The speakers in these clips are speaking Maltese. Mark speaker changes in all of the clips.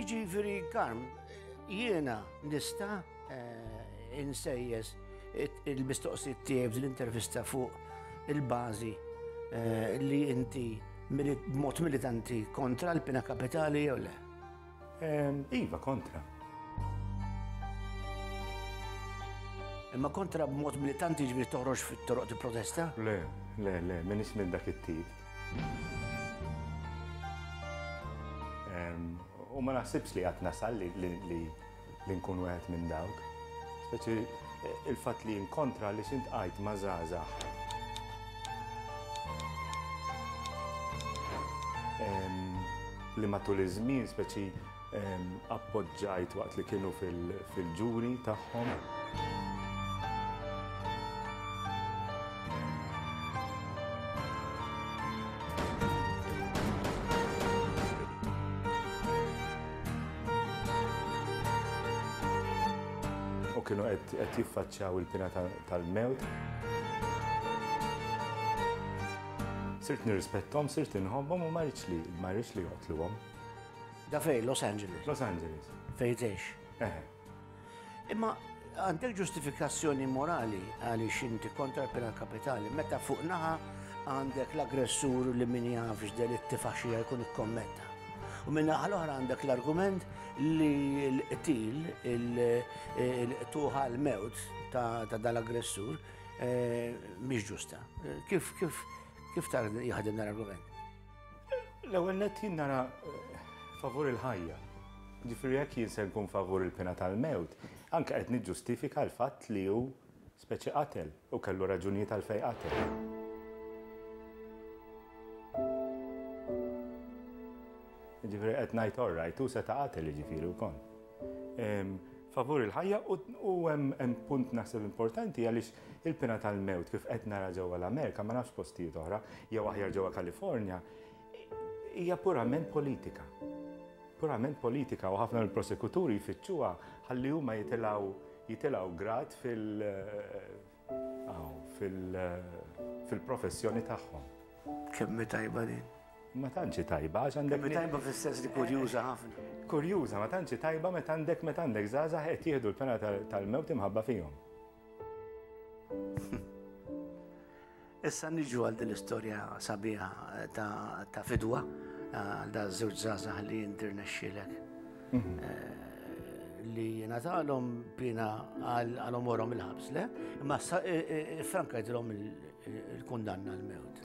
Speaker 1: Jiġifieri karm, jiena nista' eh, insejjes il-mistoqsijiet tiegħi l-intervista fuq il-bażi eh, li inti b'mod militanti kontra l-pina kapitali jew le.
Speaker 2: Iva, kontra.
Speaker 1: Imma kontra b'mod militanti ġbir toħroġ fit-toroq ti protesta? Le, le,
Speaker 2: le, minn ismin dak it-tip. U ma naħsibx li għatna sal li li nkun wieħed minn dawk. Speċi il-fatt li inkontra li xint għajt ma' żgħażagħ. Li matul iż-żmien speċi appoġġajt waqt li kienu fil-ġuri tagħhom. u kienu qed jiffaċċjaw il-pina tal-mewt. Sirt nirrispettom, sirt inħobbhom u ma rridx li ma rridx li joqtluhom. Da fej,
Speaker 1: Los Angeles. Los Angeles.
Speaker 2: Fejn tgħix?
Speaker 1: Eh. Imma għandek ġustifikazzjoni morali għaliex inti kontra l-pena kapitali meta fuq naħa għandek l-aggressur li min jafx del it-tifaxija jkun ikkommetta. U minn naħa l-oħra għandek l-argument li l-qtil, il-tuħa l-mewt ta' dal-aggressur eh, mhix ġusta. Kif kif kif tar jaħdem l-argument? L-ewwel
Speaker 2: nett jien nara favur il-ħajja. Ġifieri jekk jien se nkun favur il-pena tal-mewt, anke qed niġġustifika l-fatt li hu speċi qatel u kellu raġunijiet għalfejn qatel. Ġifieri qed ngħid all right, hu seta' qatel jiġifieri wkoll. Favur il-ħajja u hemm punt naħseb importanti għaliex Il-pena tal-mewt kif qed nara ġewwa l-Amerika, ma nafx postijiet oħra, jew aħjar ġewwa Kalifornja, hija purament politika. Purament politika u ħafna mill-prosekuturi jfittxuha ħalli huma jitilgħu jitilgħu grad fil fil-professjoni tagħhom. Kemm
Speaker 1: tajba din? Ma tantx
Speaker 2: tajba għax għandek. Kemm tajba fis-sens li
Speaker 1: kurjuża ħafna. Kurjuża, ma tantx
Speaker 2: tajba meta għandek meta għandek żgħażagħ qed jieħdu l-pena tal-mewt imħabba fihom.
Speaker 1: Issa niġu għal din l-istorja sabiħa ta' fidwa għal da' żewġ żgħażagħ li jirnexxilek mhm. eh, li jingħatalhom bina għal omorhom il-ħabs, le? Imma e, e, e, franka jidhom il-kundanna l-mewt.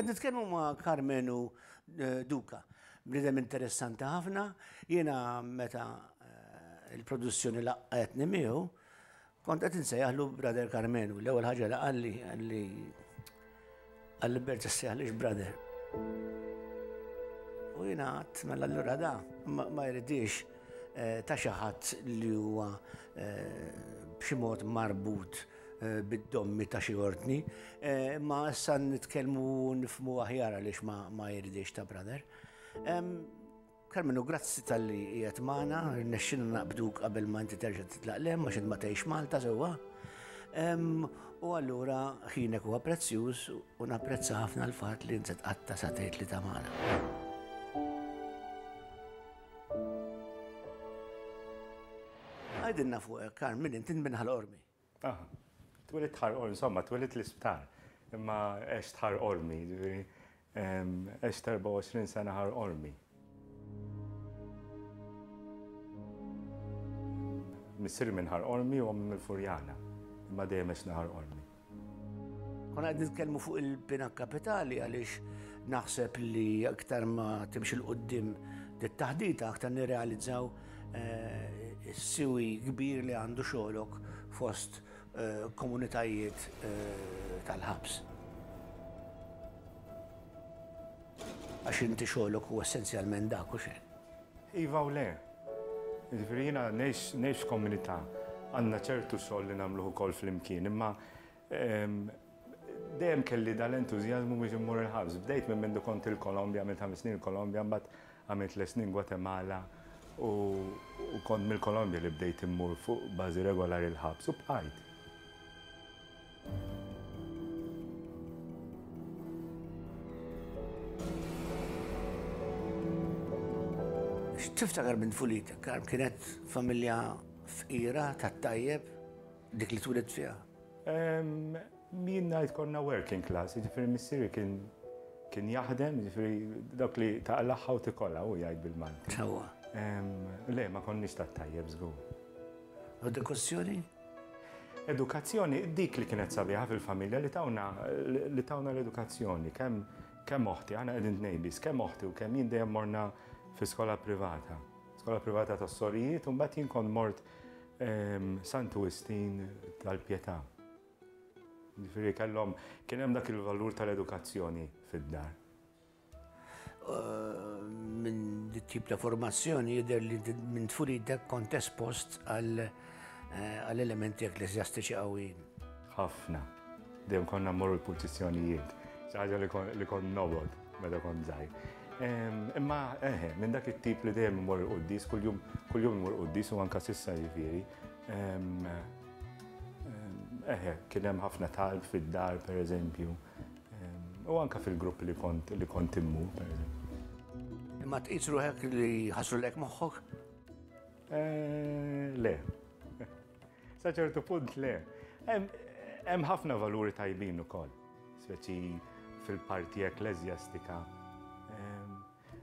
Speaker 1: Għed nitkellmu ma' Karmenu eh, Duka, bnidem interessanti ħafna, jiena meta eh, il-produzzjoni laqqetni miegħu, Kont qed insejjaħlu Brother Karmenu, l-ewwel ħaġa li qalli qalli qalli berġa' ssejjaħlix Brother. U jiena għadd mela allura da ma jridix eh, ta' xi ħadd li huwa eh, b'xi mod marbut eh, bid-dommi ta' xi ordni, ma issa nitkellmu nifmu aħjar għaliex ma jridix ta' Brother. Karmenu, grazzi tal-li jgħet maħna, rnexxina naqbduk qabel ma inti terġa titlaq lem, ma xed ma tgħix Malta sewwa. U allura ħinek huwa prezzjuż u napprezza ħafna l-fatt li inti tqatta sa tgħid li ta' magħna. Għajdinna fuq, Karmen, inti minn ħal-ormi. Aha.
Speaker 2: Twilidt Ħar Qormi, insomma, twilidt l-isptar. Imma għext Ħar Qormi, ġifieri għext 24 sena Ħar Qormi. Missieri minn Ħar Qormi u ommi mill-Furjana. Imma dejjem għexna Ħar Qormi.
Speaker 1: Konna qed nitkellmu fuq il-bina kapitali għaliex naħseb li aktar ma timx il-qudiem dit-taħdita aktar nirrealizzaw Siwi kbir li għandu xogħlok fost komunitajiet tal-ħabs. Għax inti xogħlok huwa essenzjalment dak u xejn. Iva u le.
Speaker 2: Jiġifieri jiena ngħix f'komunità, għandna ċertu xogħol li nagħmluh ukoll flimkien, imma Dejjem kelli dan l-entużjażmu biex immur il-ħabs. Bdejt minn mindu kont il-Kolombja, għamilt ħames snin il-Kolombja, mbagħad għamilt tliet snin Gwatemala u kont mill-Kolombja li bdejt immur fuq bażi regolari l-ħabs u bqajt.
Speaker 1: X'tiftakar minn tfulitek, Carm? Kienet familja fqira, tat-tajjeb? Dik li twilet fiha?
Speaker 2: Min ngħid konna working class, jiġifieri missieri kien kien jaħdem, jiġifieri dak li taqlaħħa u tikolla u jgħid bil-Malti. Sewwa.
Speaker 1: Le,
Speaker 2: ma konniex ta' tajjeb żgur.
Speaker 1: Edukazzjoni?
Speaker 2: Edukazzjoni, dik li kienet sabiħa fil-familja li tawna li tawna l-edukazzjoni, kemm kemm oħti, għana qegħdin tnejbis, kemm oħti u kemm jien dejjem morna fi skola privata. Skola privata tas-sorijiet, u mbagħad jien kont mort Santu Wistin tal-Pietà. Ġifieri kellhom kien hemm dak il-valur tal-edukazzjoni fid-dar.
Speaker 1: Minn dit tip ta' formazzjoni jidher li minn tfulidek kont espost għal eh, elementi ekklesjastiċi qawwin. Ħafna.
Speaker 2: Dejjem konna mmorru l-pultizzjonijiet. Xi ħaġa li kont nobod meta kont żgħir. Imma eħe, minn dak it-tip li dejjem mmorru l-quddis, kuljum kuljum mmorru l-quddis u anka sissa jifieri. Eħe, kien hemm ħafna talb fid-dar pereżempju. U anka fil-grupp li kont li kont immur pereżempju. Imma
Speaker 1: tqis ruħek li ħasrulek moħħok? Eh,
Speaker 2: le. Sa ċertu punt le. Hemm ħafna valuri tajbin ukoll, speċi fil-parti ekklesjastika.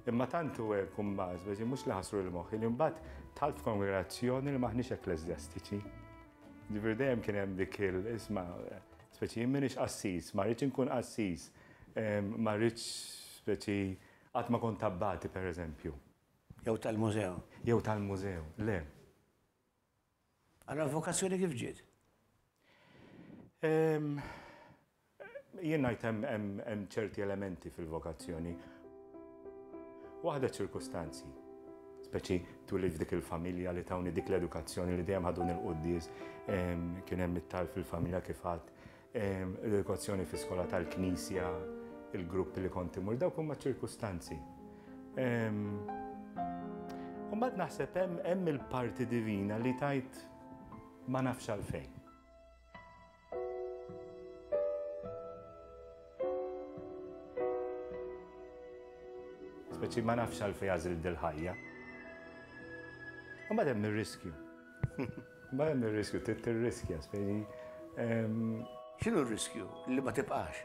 Speaker 2: Imma tantu hekk imbagħad, speċi mhux li ħasru l-moħħ, li mbagħad tal f'kongregazzjoni li maħniex ekklesjastiċi. Ġifier dejjem kien hemm dik il-isma' speċi jien minix qassis, ma rridx inkun qassis, ma rridx speċi qatt ma kont tabbati pereżempju. Jew
Speaker 1: tal-mużew. Jew tal-mużew,
Speaker 2: le. Allura
Speaker 1: l-vokazzjoni kif ġiet?
Speaker 2: Jien ngħid hemm ċerti elementi fil-vokazzjoni. Waħda ċ-ċirkustanzi, speċi twilid f'dik il-familja li tawni dik l-edukazzjoni li dejjem ħaduni l-quddies, kien hemm it-talb fil-familja kif għedt L-edukazzjoni fi skola tal-Knisja, il-grupp li kont imur, dawk huma ċirkustanzi. Mbagħad naħseb hemm il-parti divina li tajt ma nafx għalfejn. Speċi ma nafx għalfejn għażil dil-ħajja. Mbagħad hemm ir-riskju. Imma hemm ir-riskju, trid tirriskja, spjegi.
Speaker 1: X'inhu r-riskju? Li ma tibqax.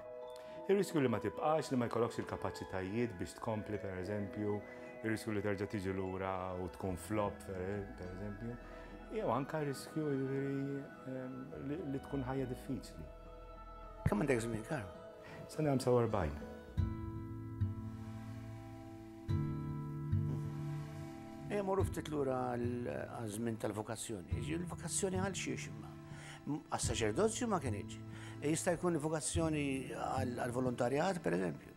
Speaker 1: Ir-riskju
Speaker 2: li ma tibqax, li ma jkollokx il-kapaċitajiet biex tkompli, pereżempju, ir-riskju li terġa' tiġi lura u tkun flop, pereżempju, jew anke riskju li tkun ħajja diffiċli. Kemm
Speaker 1: għandek żmien, Karm? Sa nagħmel
Speaker 2: 47.
Speaker 1: Ejja morru ftit lura għal-żmien tal-vokazzjoni. Il-vokazzjoni għal xiex imma. Għas-saċerdozju ma kienieġ. E jista' jkun vokazzjoni għal-volontarjat, per eżempju.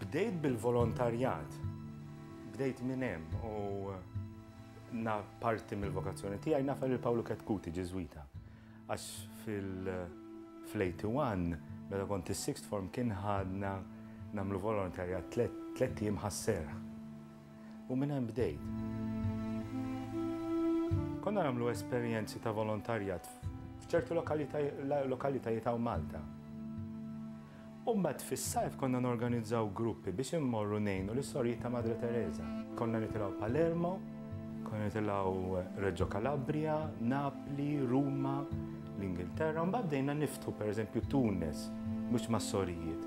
Speaker 2: Bdejt bil-volontarjat, bdejt minn hemm u na parti mill-vokazzjoni tiegħi nafel il-Pawlu Ketkuti Ġiżwita. Għax fil-81, meta kont is-sixth form kien ħadna nagħmlu volontarjat tliet ijiem ħas-serħ. U minn hemm bdejt. Konna nagħmlu esperjenzi ta' volontarjat f'ċertu lokalitajiet hawn Malta. U mbagħad fis-sajf konna norganizzaw gruppi biex immorru ngħinu lis-Sorijiet ta' Madre Tereża. Konna nitilgħu Palermo, konna nitilgħu Reġġo Calabria, Napli, Ruma, l-Ingilterra, u mbagħad bdejna niftħu pereżempju Tunis, mhux mas-Sorijiet.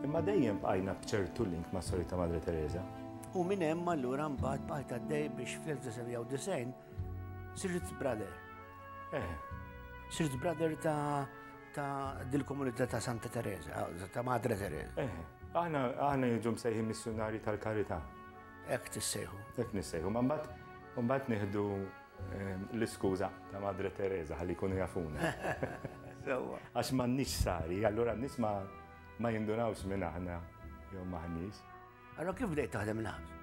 Speaker 2: Imma dejjem bqajna b'ċertu link mas-Sorijiet ta' Madre Tereża.
Speaker 1: U minn hemm allura mbagħad bqajt għaddej
Speaker 2: biex
Speaker 1: fl-1990 sirt brother. Eh.
Speaker 2: Sirt
Speaker 1: brother ta' Ta' dil-komunità ta' Santa Teresa, ta' Madre Teresa. Eh, aħna aħna
Speaker 2: jiġu msejħi missjonari tal-karità. Ek
Speaker 1: tissejħu. Ek nissejħu, ma mbagħad
Speaker 2: mbagħad nieħdu eh, l-iskuża ta' Madre Teresa ħalli jkunu jafuna.
Speaker 1: Għax m'għandniex
Speaker 2: sari, allura n-nies ma ma jindurawx minn aħna jew maħniex. Allora kif bdejt
Speaker 1: taħdem il-ħabs?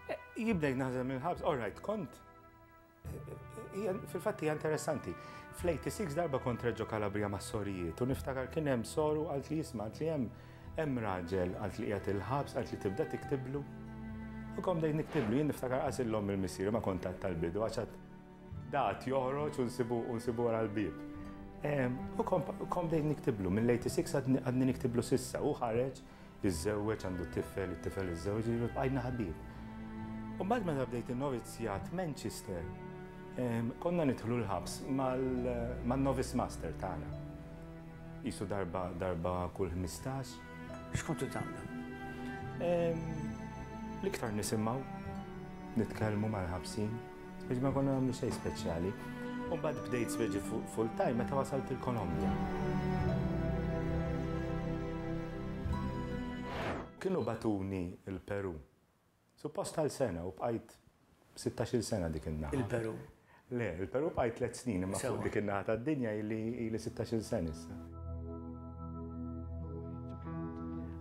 Speaker 1: Eh,
Speaker 2: jibdejt naħdem il-ħabs, all right, kont Fil-fatt hija interessanti. Fl-86 darba kont Reġġo Kalabria ma' sorijiet u niftakar kien hemm soru għalt li jisma' għalt li hemm hemm raġel għalt li qiegħed il-ħabs għalt li tibda tiktiblu. U kom dejn niktiblu jien niftakar qasillhom il-missier ma kont għad tal-bidu għax għad dat joħroġ u nsibu u nsibu wara l-bieb. U kom dejn niktiblu mill-86 għadni niktiblu sissa u ħareġ Iżżewweġ, għandu tifel, it-tifel iżżewweġ, jiġifieri bqajna ħbieb. U mbagħad meta bdejt in-novizzjat f'Manchester, konna nidħlu l-ħabs man-novice master tagħna. Qisu darba, darba kull ħmistax. X'kontu
Speaker 1: tagħmlu?
Speaker 2: L-iktar nisimgħu, nitkellmu mal-ħabsin. Biex ma konna nagħmlu xejn speċjali. U mbagħad bdejt speċi full time meta wasalt il-Kolombja. Kienu batuni il-Peru. Suppost għal sena u bqajt 16 sena dik in-naħa. Il-Peru? Le,
Speaker 1: il-Peru
Speaker 2: bqajt tliet snin imma fuq dik in-naħa tad-dinja li 16 sena issa.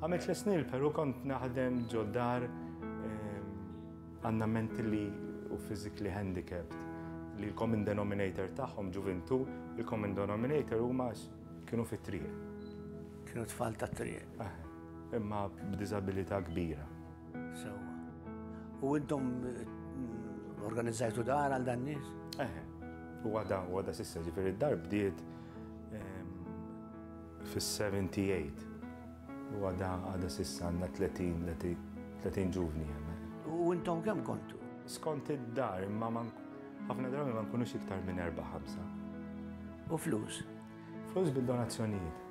Speaker 2: Għamilt tliet snin il-Peru kont naħdem ġo dar Għandna mentally u physically handicapped li l-common denominator tagħhom ġuvintu, il-common denominator huma kienu fit-triq. Kienu
Speaker 1: tfal ta' triq. Eh, imma
Speaker 2: b'diżabilità kbira. Sewa.
Speaker 1: U intom mm, organizzajtu dar għal dan nies? Eh, u
Speaker 2: għada, u għada sissa ġifiri d-dar bdiet ehm, fis-78. U għada, għada sissa għanna 30 ġuvni għanna. U intom
Speaker 1: kem kontu? Skont id-dar,
Speaker 2: imma man ħafna drabi ma nkunux iktar minn 4-5. U
Speaker 1: flus? Flus
Speaker 2: bil-donazzjonijiet.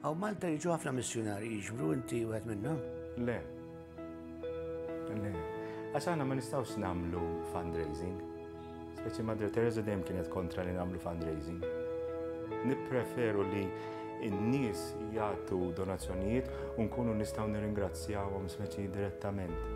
Speaker 1: Għaw Malta jiġu ħafna missjonari jiġbru inti u għed minna? Le,
Speaker 2: Għax aħna ma nistgħux nagħmlu fundraising. Speċi Madre Teresa dejjem kienet kontra li nagħmlu fundraising. Nippreferu li n-nies jagħtu donazzjonijiet u nkunu nistgħu nirringrazzjawhom speċi direttament.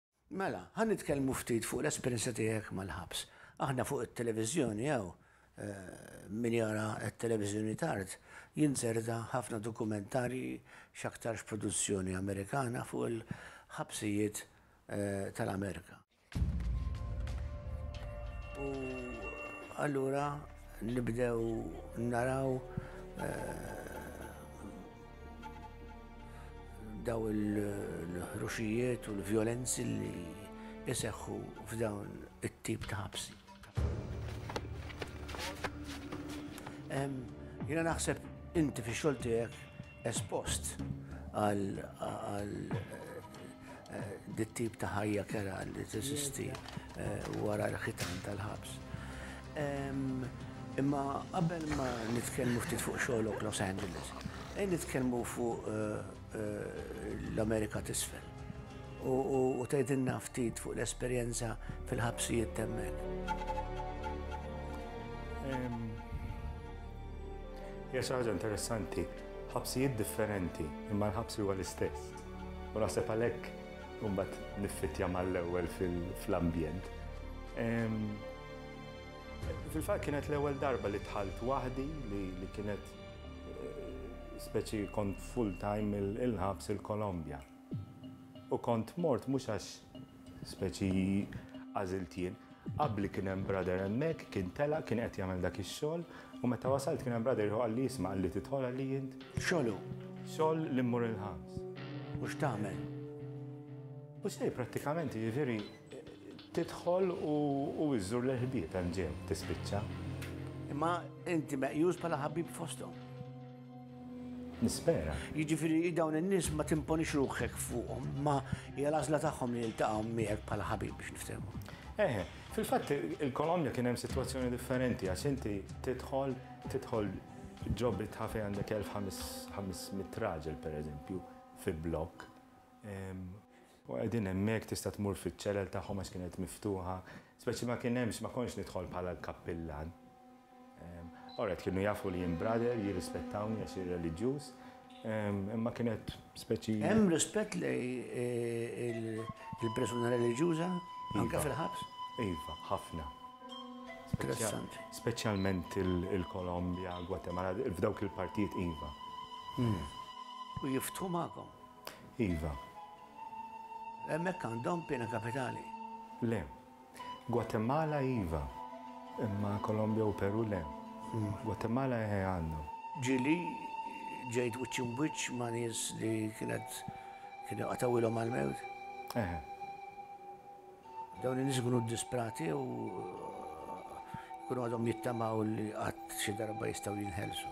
Speaker 1: Mela, ħa nitkellmu ftit fuq l-esperjenza tiegħek mal-ħabs. Aħna fuq it-televiżjoni hawn, min jara t-televiżjoni tard, jinzerta ħafna dokumentarji x'aktarx produzzjoni Amerikana fuq il-ħabsijiet tal-Amerika. U allura nibdew naraw. daw il-ħruxijiet u l-vjolenzi li jiseħħu f'dawn it-tip ta' ħabsi. Jina naħseb inti fi xogħol tiegħek espost għal dit-tip ta' ħajja kerha li teżisti wara l-ħitan tal-ħabs. Imma qabel ma nitkellmu ftit fuq xogħlok Los Angeles, ejja nitkellmu fuq l-Amerika t'Isfel u tgħidilna ftit fuq l-esperjenza fil-ħabsijiet t'hemmhekk.
Speaker 2: Hija xi ħaġa interessanti. Ħabsijiet differenti, imma l-ħabs huwa l-istess. U naħseb għalhekk mbagħad niffittja mal-ewwel fl-ambjent. Fil-fatt kienet l-ewwel darba li tħalt waħdi li kienet eh, speċi kont full time il-ħabs il-Kolombja. U kont mort mhux għax Speċi għażilt jien. Qabli kien hemm brother hemmhekk, kien tela', kien qed jagħmel dak ix-xogħol, u meta wasalt kien hemm brother ieħor qalli isma' qalli tidħol għalli int? X'xogħol hu? Xogħol
Speaker 1: li mmur
Speaker 2: il-ħams. U x'tagħmel? U xejn prattikament, jiġifieri tidħol u iżżur lill-ħbieb hemm ġew tispiċċa. Imma
Speaker 1: inti meqjus bħala ħabib fosthom. Nispera.
Speaker 2: Jiġifieri dawn in-nies
Speaker 1: ma timponix ruħek fuqhom, ma hija l-għażla tagħhom li jiltaqgħu miegħek bħala ħabib biex niftehmu. Eh, fil-fatt
Speaker 2: il-Kolombja kien hemm sitwazzjoni differenti għax inti tidħol tidħol ġob it-ħafi għandek 1500 raġel pereżempju fi blokk. Ehm, U qegħdin hemmhekk tista' tmur fiċ-ċelel tagħhom għax kienet miftuħa. Speċi ma kien hemmx, ma kontx nidħol bħala l-kappillan. Alright, kienu jafu li jien brother, jirrispettawni għax ir-reliġjuż, imma kienet speċi. Hemm rispett
Speaker 1: lejn il-persuna reliġjuża anke fil-ħabs? Iva, ħafna. Interessanti. Speċjalment
Speaker 2: il-Kolombja, Gwatemala, f'dawk il-partijiet iva.
Speaker 1: U jiftħu magħkom? Iva. Hemmhekk għandhom piena kapitali? Le.
Speaker 2: Gwatemala iva, imma Kolombja u Peru le. Gwatemala eħe għandhom. Ġieli
Speaker 1: ġejt wiċċ imbwiċċ ma' nies li kienet kienu qatgħuilhom mal-mewt? Eħe. Dawn in-nies ikunu ddisprati u jkunu għadhom jittamaw li qatt xi darba jistgħu jinħelsu.